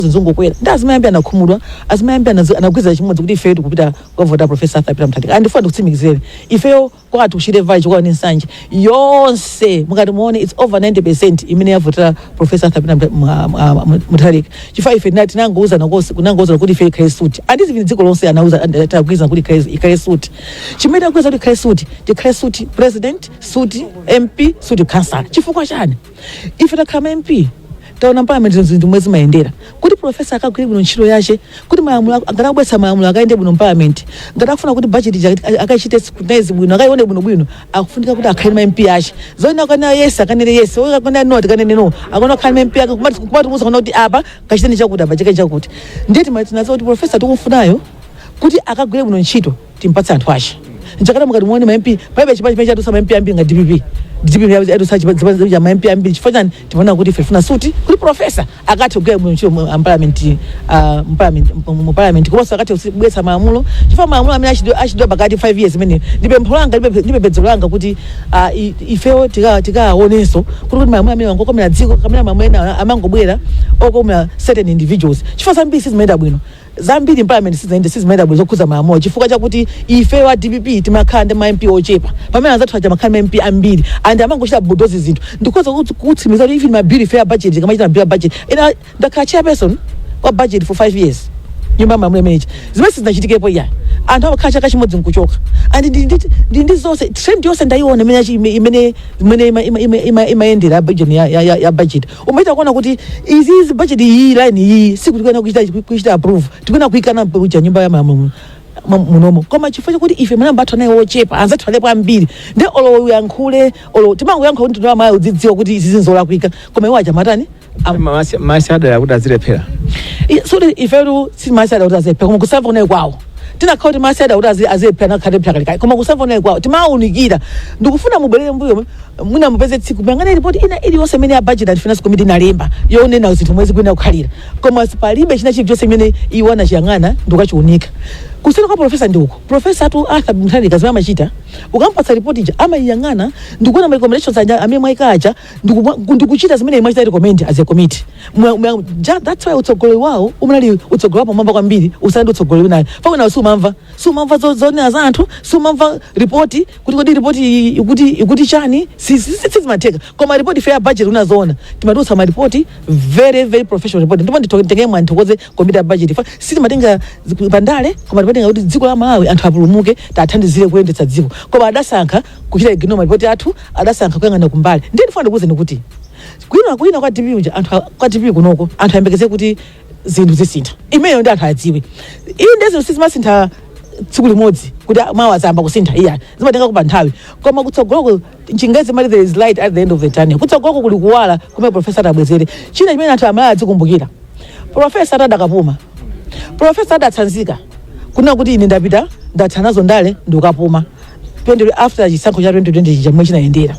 zinthu zongokwera ndi azimai ambiri anakhumudwa azimai ambiri anazi- anagwirizana chimodzi kuti ifeyo tikupita kukavota profesa arthur peter mutharika and ndifuna ndikutsimikizireni ifeyo kwathu ku Shire Valley Chikwawa ndi nsanje yonse mukati muone its over 90 percent imene yavotera profesa arthur peter Mutha- Mwa- Mwa- Mwa- mutharika chifukwa ife tinati tinangouzana konse kunangouzana kuti ife ikhale suti and zivini dziko lonse anauza tagwirizana kuti ikhale- ikhale suti chimene tagwirizana kuti ikhale suti tikhale suti president suti mp suti council chifukwa chani ife takhala ma mp taona mparliament zinthu zomwe zimayendera kuti profesa akagwire bwino ntchito yace kuti malamulo ak- ngati akubweretsa malamulo akayende bwino mparliament ngati akufuna kuti budget ija ak- akachite scrutinize bwino akayione bwinobwino akufunika kuti akhale ma mp ace zoona akanena yes akanene yes iwo akanena no akanene no akona akhale ma mp ake kumati kumamuuza kaya kuti apa kachiteni chakuti apa cheke chakuti ndiye timatinazo kuti profesa tikumfunayo kuti akagwire bwino ntchito timpatse anthu ace nchakana mukati muone ma MP paibe chipani chimene chadutsa ma MP ambiri nga DPP DPP yabu- yadutsa chipa- zipani za ma MP ambiri chifukwa chani timaona kuti ife tifuna suti kuti profesa akathe kugwira bwino ntchito mu- ah, mparliament ah, mparliament- mu- mu parliament komanso akathe kubweretsa malamulo chifukwa malamulo amene achidwa- achidwa pakati 5 years imene ndi pempho langa ndi pempe- ndi pembedzero langa kuti ah, i- ifewo tika- tikaonenso kuti kuti malamulo amene wangokomera dziko kamene malamulo ena amangobwera okomera certain individuals chifukwa zambiri sizimayenda bwino zambiri parliament sizayende sizimayenda bwino zokhudza malamulo chifukwa chakuti ifeyo a dpp timakhala ndi ma mp ochepa pamene anzathu aja amakhala ma mp ambiri and amangochita bulldoze zinthu ndikhoza kuti- kutsimikiza kuti even mabiri ifeyo a budget tikamachita mabiri a budget ena ndakhala chairperson wa budget for five years nyumba yamalamulo imeneyi zimene sizinachitikepo iya anthu amakhala chaka chimodzi nkuchoka and ndi- ndi- ndi ndi zonse trend yonse ndayiona imene yachi- imene imene ima- ima- ima- ima- imayendera ya budget ya- ya- ya- ya budget umachita kuona kuti izi izi budget iyi line iyi sikuti kuena kuchita kuchita approve tikuena kuikana kuja nyumba ya malamulo mu- munomo koma chifukwa chakuti ife manamba athu anali ochepa anzathu analipo ambiri nde olo uyankhule olo timangoyankhula kuti mtundu wamalawi udzidziwa kuti izi zinzolakwika koma iwo aja amati timasa- timasadala kuti azilephera so ifetu sitimasadala kuti azilephera koma kusamva kunali kwawo tinakhala kuti timasadala kuti azi- azilephera nakhala alephera kalekale koma kusamva kunali kwawo timawunikira ndikufuna mubwerere mbuyo mwina mupeze tsiku muyang'ane ripoti ina iliyonse imene ya budget and finance committee inalemba yonena zinthu mwe zikuyenera kukhalira koma palibe china chilichonse imene iwo anachiyang'ana ndikukachiunika kusiyana kwa profesa ndi uko profesa atu arthur mutharika zimene amachita ukampatsa ripoti ija amayiyang'ana ndikuona ma recommendations anya- amene mwayika aja ndikupwa- ndikuchita zimene imachita recommend as a committee Mwa- mwa- ja- that's why utsogoleri wawo umu unali utsogoleri wapamwamba kwambiri kusiyana ndi utsogoleri unalipo panawo sumamva sumamva zo- zonena za anthu sumamva ripoti kuti kodi ripoti iyi ikuti ikuti chani Si- si- si- sizimatheka koma ripoti ife a budget kunena zoona timatulutsa maripoti very very professional report ndipo nditengere mwayi nthokoze komiti ya budget ife sitimatenga zi- pandale koma timatenga kuti dziko la malawi anthu apulumuke tathandizire kuyendetsa dziko koma adasankha kuchita ignore malipoti athu adasankha kuyang'ana kumbali ndiye ndifuna ndikuwuzeni kuti kuwina kuwina kwa dpp uja anthu a- kwa dpp kunoko anthu ayembekeze kuti zinthu zisintha imeneyo ndi anthu adziwe iyi ndiye zinthu sizimasintha tsiku limodzi kuti a- mawa zayamba kusintha iyayi zimatenga kupa nthawi koma kutsogoloko chingerezi amati there is light at the end of the tunnel kutsogoloko kuli kuwala kumene profesa atabwezere china chimene anthu amalawi adzikumbukira profesa adakapuma profesa adatsanzika kunena kuti ine ndapita ndathanazo ndale ndikapuma 20 after chisankho cha 2020 chija momwe chinayendera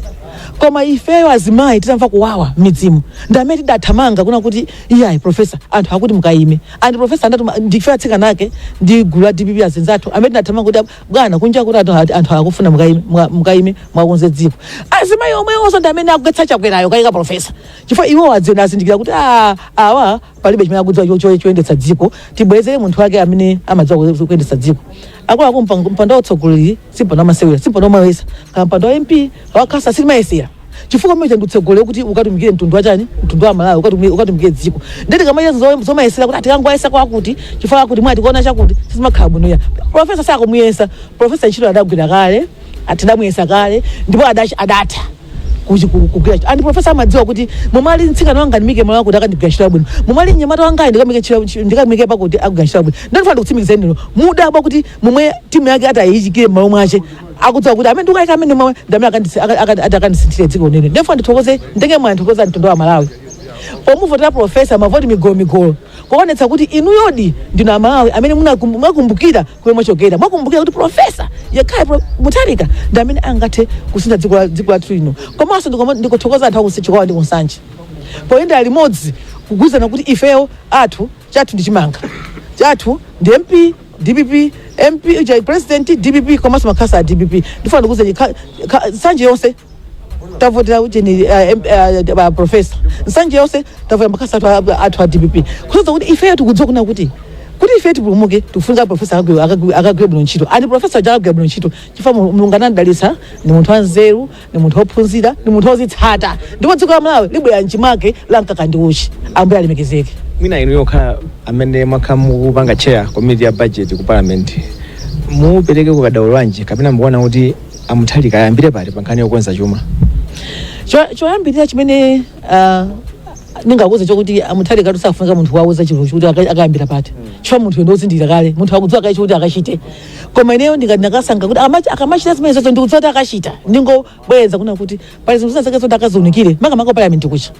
koma ifeyo azimayi titamva kuwawa m'midzimu ndi amene tidathamanga kunena kuti iyayi profesa anthu akuti mukayime and profesa andatuma ndife atsikana ake ndi gulu la dpp azinzathu amene tidathamanga kuti ab- bwana kunja kuti anthu ati- anthu akufuna mukayime- mwa- mukayime mwakonze dziko azimayi omwewonso ndi amene akugwetsa chakwerayo kuyika profesa chifukwa iwo adziona azindikira kuti "Ah, awa palibe chimene akudziwa cho- cho- choyendetsa dziko tibwezere munthu wake amene amadziwa ku- kuyendetsa dziko akuluakulu mpa- mpando wautsogoleri si mpando wamasewera si mpando wamawesa kaya mpando wa mp wa khansala sitimayesera chifukwa mmene chandu utsogoleri kuti ukatumikire mtundu wachani mtundu wa malawi ukatumi- ukatumikire dziko ndeti kamaiya zomayesera kuti a tikangowayesa kwakuti chifukwa akuti mwatikwana chakuti sizimakhala bwino ayi profesa sakumuyesa profesa ntchito adagwira kale tidamuyesa kale ndipo adachi adatha kuchi- ku- kugwira ntchito. and profesa amadziwa kuti momwe ali mtsikana wanga ndimuyike malo akuti akandigwirira ntchito yabwino momwe ali mnyamata wangayi ndikamuyike ntchito- ntchito- ndikamuyike pakuti akugwira ntchito yabwino ndiye ndifuna ndikutsimikizireni inu mudabwa kuti momwe timu yake atayiyikire mmalo mwache akudziwa kuti amene ndikayika amene momwe ndamene akandisi- aka- aka- ati akandisinthire dziko nde ine ndifuna ndithokoze nditenge mwayi ndithokoze mtundu wa malawi pomuvotera profesa mavoti migolo migolo kuonetsa kuti inuyodi ndinu amalawi amene munakum- munakumbukira komwe mwachokera mwakumbukira kuti profesa yekhayo Pro- mutharika ndi amene angathe kusintha dziko la- dziko lathu lino komanso ndikoma- ndikuthokoza anthu akuchikwawa ndi kunsanje poyenda limodzi kugwirizana kuti ifeyo athu chathu ndi chimanga chathu ndi mp dpp mp uja president dpp komanso makhansala a dpp ndifuna ndikuuzeni nsanje yonse tavotera ujeni profesa nsanje yonse tavotera makhansala athu a- athu a dpp kusonyeza kuti ifeyo tikudziwa kunena kuti kuti ife tipulumuke tikufunika profesa akagwe- akagwe- akagwire bwino ntchito and profesa aja akagwira bwino ntchito chifukwa Mul- mulungu anamdalitsa ndi munthu wanzeru ndi munthu wophunzira ndi munthu wozitsata ndipo dziko la malawi libwerera mchimake la mkaka ndi uchi ambuye alemekezeke mwina inuyo kukhala amene mwakhala mukupanga chair komiti ya budget ku parliament mupereke ukadaulo wanji kapena mukuona kuti a mutharika ayambire pati pa nkhani yokonza chuma Cho- choyambirira chimene ah, ndingakuuzeni chokuti a mutharikatu sakufunika munthu wowauza chinthu chokuti aka- akayambira pati chifukwa munthuyo ndi wozindikira kale munthu akudziwa kale chokuti akachite koma ineyo ndikati ndakasankha kuti akamachi- akamachita zimenezozo ndikudziwa kuti akachita ndingobwereza kunena kuti pali zinthu zina zake zoti akaziunikire makamaka palamenti kuja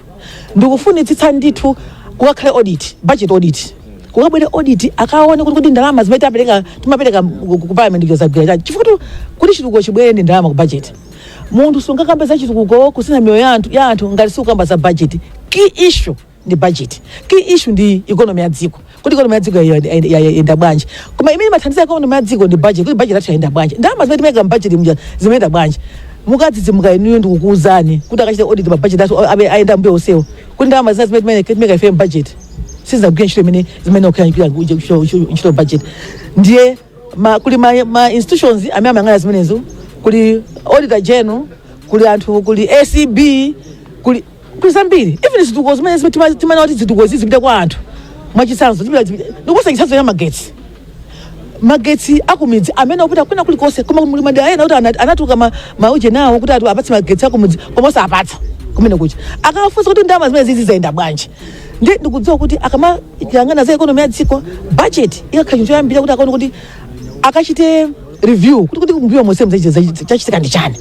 ndikufunitsitsa ndithu kukakhale audit budget audit kukabwere audit akaone kuti kuti ndalama zimene tapereka timapereka ku- ku parliament zagwira chani chifukwa tu- kuti chitukuko chibwere ndi ndalama ku budget munthu sungakamba za chitukuko kusintha miyoyo ya anthu- ya anthu ngati sukukamba za budget key issue ndi budget key issue ndi economy ya dziko kuti ikonomi ya dziko yayenda- yayenda bwanji koma imene imathandiza ikonomi ya dziko ndi budget kuti budget yathu yayenda bwanji ndalama zimene timayika mbudget muja zimayenda bwanji mukadzadzidzimuka inuyo ndikukuwuzani kuti akachita audit ma budget athu abe- ayenda mbuyo onsewo kuti ndalama zina zimene timayika- timayika ife mbudget sizagwira ntchito imene zimene okuyangikira ntchito budget ndiye ma, kuli ma, ma institutions amene amayang'ana zimenezo kuli auditor general kuli anthu kuli acb kuli kuli zambiri even zitukuko zimene zimene tima- timanena kuti zitukuko izi zipite kwa anthu mwachitsanzo zipita- zipita- ndikupatsa chitsanzo ya magetsi magetsi akumidzi amene akupita kwina kulikonse koma muli madera ena kuti ana- anatuluka ma- mauje nawo kuti awapatse magetsi akumidzi koma osapatsa kumene kucha akafunsa kuti ndalama zimenezizi zayenda bwanji ndi ndikudziwa kuti akamayang'ana za ekonomi ya dziko budget ikakhala chinthu choyambira kuti akaone kuti akachite review kuti kuti mbuyo monsemu chachitika ndi chani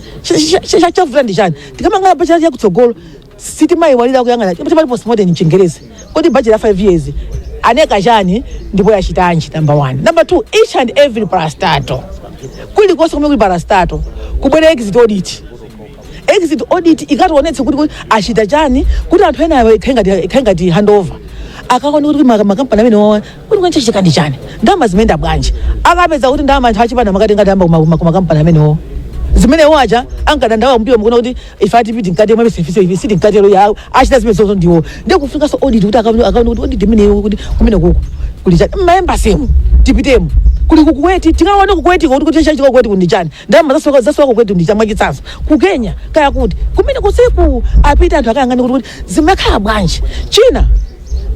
chavuta ndi chani tikamayang'ana budget yakutsogolo sitimayiwala kuyang'ana chomwe chimati postmortem mchingerezi kodi budget ya 5 years inanena chani ndipo yachitanji number one number two each and every parastatal kulikonse kumene kuli parastatal kubwere exit audit exit audit ikatiwonetse kuti kuti achita chani kuti anthu enayo ikhale ngati- ikhale ngati handover akaone kuti ma- makampani amenewawa kuti chachitika ndi chani ndalama zimayenda bwanji akapeza kuti ndalama anthu achipani amakatenga ndalama kumakampani amenewo zimene iwo aja ankadandaula mbuyo mukuona kuti ife a dpp tili mkati mwa service ife siti mkati iwo achita zimenezozo ndiwo ndiye kufunikanso audit kuti akaone akaone kuti audit imeneyo kuti kumenekuku kuli chani mmaembasemu tipitemu kuli ku kuwait tikaone ku kuwaitiko kuti kuti chachitika ku kuwaitiko ndi chani ndalama zasowa ku kuwait ndi chani mwachitsanzo ku kenya kaya kuti kumene kuliko apite anthu akayang'ane kuti kuti zimakhala bwanji china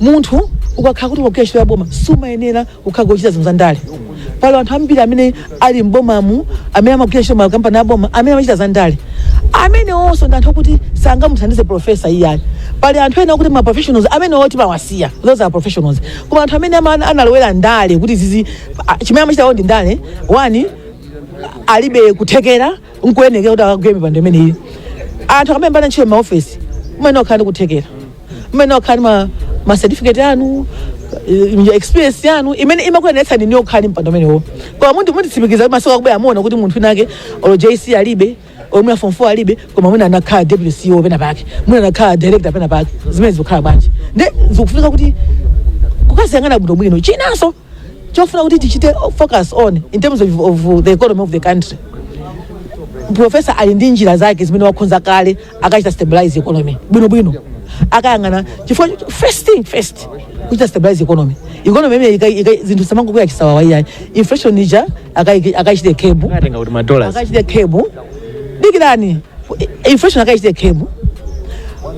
munthu ukakhala kuti ukugwira ntchito ya boma sumayenera kukhala kuchita zinthu za ndale pali anthu ambiri amene ali m'bomamu amene amagwira ntchito makampani a boma amene amachita za ndale amenewonso ndi anthu okuti sangamuthandize profesa iyayi pali anthu ena okuti ma professionals amenewo timawasiya those are professionals koma anthu amene ama- analowera ndale kuti zizi a- chimene amachita iwo ndi ndale one alibe kuthekera nkuyenerera kuti akagwire mipando imeneyi anthu akamayamba ntchito maofesi mmene okhala ndi kuthekera mmene okhala ndi ma, ma certificate anu eh, experience yanu imene imakuyeneretsani kukhala ndi mpando umenewo koma munthu mutitsimikiza kuti masiku akubwera muona kuti munthu winake olo jc alibe olo mwina form 4 alibe koma mwina anakhala deputy ceo pena pake mwina anakhala director pena pake zimene zikukhala bwanji nde zikufunika kuti akaziyang'ane bwinobwino chinanso chofuna kuti tichite focus on in terms of, of the economy of the country profesa ali ndi njira zake zimene wakhonza kale akachita stabilize economy bwinobwino akayang'ana chifukwa cho- first thing first kuchita stabilize economy economy imene ika- ika- zinthu samangokwera chisawawa iyayi inflation ija akayi- akayichite curb Akatenga kuti ma dollars. akayichite curb dikirani inflation akayichite curb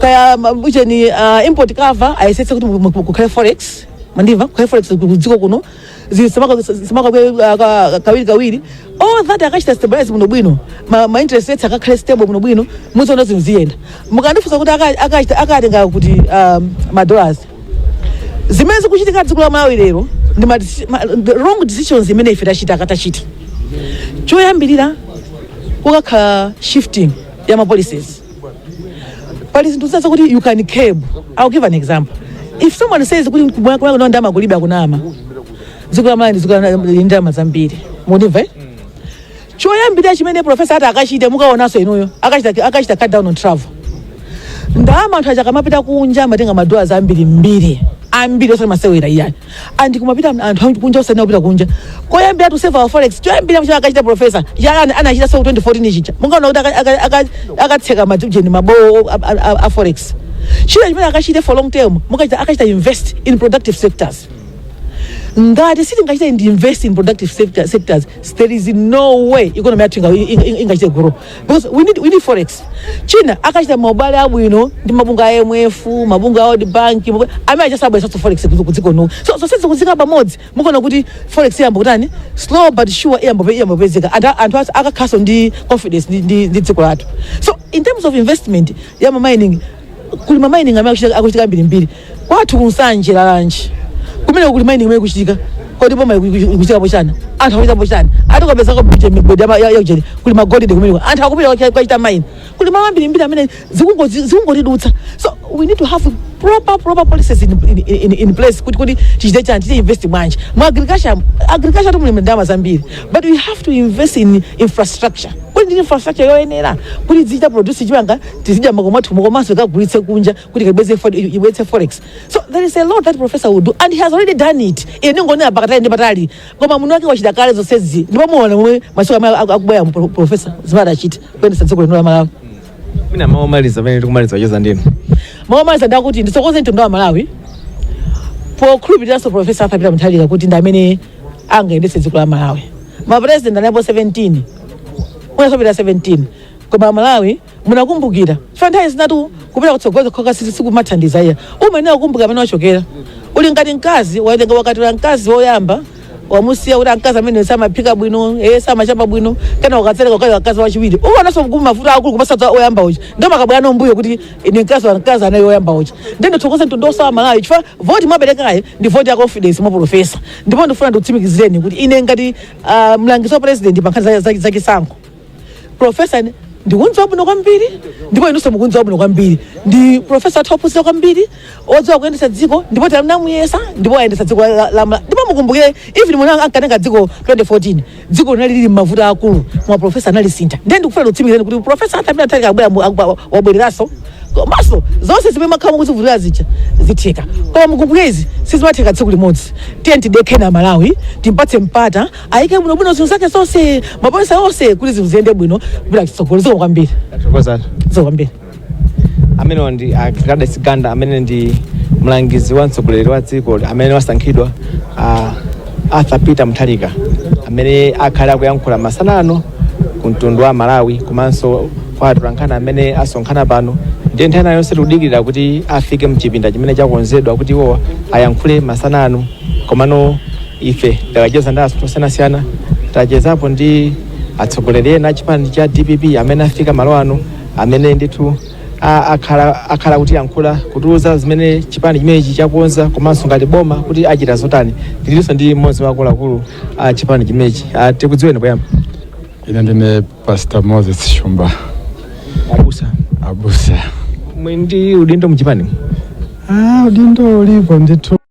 kaya ma- ujeni uh, import cover ayesetse kuti mu- mu- kukhale forex mwandimva kwa forex kudziko kuno zisamakwera kawiri kawiri all that akachita stabilize bwino bwino ma, ma interest rates akakhale stable bwino bwino muzaona zinthu ziyenda mukandifunsa kuti aka- akachita akatenga kuti um, ma dollars zimene zikuchitika dziko la malawi lero ndi ma, deci- ma, the wrong decisions imene ife tachita akatachita choyambirira kukakhala shifting ya ma policies pali zinthu zina zakuti you can curb i'll give an example if someone says kuti kumwako kuno ndalama kulibe akunama dziko la malawi ndi dziko la- lili ndi ndalama zambiri mwandimva eh? choyambirira chimene profesa ati akachite mukaonanso inuyo akachita akachita cut down on travel ndalama anthu aja akamapita kunja amatenga madola ambirimbiri ambiri osati masewera iyayi and kumapita anthu anthu kunja osati kupita kunja koyambira to save our forex choyambira mchaka akachita professor yalani anachitanso 2014 chija mungaona kuti aka- aka- aka- akatseka ma ujeni mabowo a- a- a- a forex china chimene akachite for long term akachita akachita invest in productive sectors ngati sitingachite ndi invest in productive sector, sectors there is no way economy yathu inga- inga- ingachite grow because we need, we need forex china akachita maubale abwino ndi mabungwe a imf mabungwe a world bank mabungwe- amene adzabweretsenso forex kuzi- kudziko kuno so zonsezi kuziika pamodzi mukuona kuti forex iyamba kutani slow but sure iyamba pe- iyamba kupezeka anthu a- anthu asa- akakhalanso ndi confidence ndi- ndi ndi dziko lathu so in terms of investment ya ma mining kuli ma mining amene akuchita- akuchitika ambirimbiri kwathu kunsanje lulanje kumene kuli mining kumene kuchitika kodi boma ikuchitapo chani anthu akuchitapo chani ati ukapeza kopita migodi ama- ya- ya ujeni kuli magolide kumene kwa- anthu akupita kucha- kukachita mine kuli malo ambirimbiri amene zikungo- zi- zikungotidutsa so we need to have proper proper policies in, in, in, in place kuti kuti tichite chani tichite invest mwanji mu agriculture agriculture timu muli ndalama zambiri but we have to invest in infrastructure kuti ndi infrastructure yoyenera kuti tizichita produce chimanga tizidya m'makomo athu komanso tikagulitse kunja kuti kaibweretse fo- ibweretse forex so there is a lot that professor will do and he has already done it ine ndingonena pakatali ndi patali koma munthu wake wachita kale zonsezi ndipo muona momwe masiku amene aku- akubweramu pro- professor zimene adachita kuyendesa dziko lino la malawi mwina mawu omaliza pamene tikumaliza kucheza ndinu mawu omaliza ndakuti ndithokoze mtundu wa malawi pokhulupiriranso profesa arthur peter mutharika kuti ndi amene angayendetse dziko la malawi mapresident analipo 17 unasopita 17 koma malawi munakumbukira chifukwa nthawi zinatu kupita kutsogolo kokha si- sikumathandiza iyayi umayenera kukumbukira kumene wachokera uli ngati mkazi waitenga wakwatira mkazi woyamba wamusiya kuti mkazi ameneyu samaphika bwino eye samachapa bwino kenako ukatsereka ukwati mkazi wachiwiri ukaonanso mkulu mavuto akulu kuposa oyamba uja ndiye umakabwera no mmbuyo kuti ine mkazi wa mkazi anaye oyamba uja ndiye ndithokoze mtundu wonse wa amalawi chifukwa voti mwaperekayi ndi voti ya confidence mwa profesa ndipo ndifuna ndikutsimikizireni kuti ine ngati ah, mlangizi wa president pa nkhani za- za- za chisankho profesa ndikuona zabwino kwambiri ndipo inunso mukuona zabwino kwambiri ndi profesa wathu ophunzira kwambiri odziwa kuyendetsa dziko ndipo tinamuyesa ndipo ayendetsa dziko la- la- la- ndipo mukumbukire even mmene ankatenga dziko 2014 dziko linali lili m'mavuto akulu koma profesa analisintha ndiye ndikufuna ndikutsimikizireni kuti profesa athu amene analiko abwera mu- akubwa- wabwereranso komanso zonse zimene mwakhala mukuzivutikira zija zitheka koma mukumbukire izi sizimatheka tsiku limodzi tiyeni tidekhe amalawi tiwapatse mpata ayike bwino bwino zinthu zake zonse mapolise onse kuti zinthu ziyende bwino tipite chitsogolo zikomo kwambiri Tathokoza. zikomo kwambiri amenewa ndi a Gladys Ganda amene ndi mlangizi wa mtsogoleri wa dziko amene wasankhidwa a Arthur Peter Mutharika amene akhale akuyankhula masana ano ku mtundu wa Amalawi komanso kwa atolankhani amene asonkhana pano ndiye nthawi ina yonse tikudikirira kuti afike mchipinda chimene chakonzedwa kuti iwowa ayankhule masana ano komano ife takhala tikucheza ndi anthu osiyanasiyana tachezapo ndi atsogoleri ena achipani cha dpp amene afika malo ano amene ndithu a- akhala akhala akutiyankhula kutiuza zimene chipani chimenechi chakonza komanso ngati boma kuti achita zotani tilinso ndi mmodzi wa akuluakulu a chipani chimenechi Ah, tikudziweni poyamba ine ndine pastor moses shumba abusa abusa muli ndi udindo mchipani ah, udindo ulipo ndithu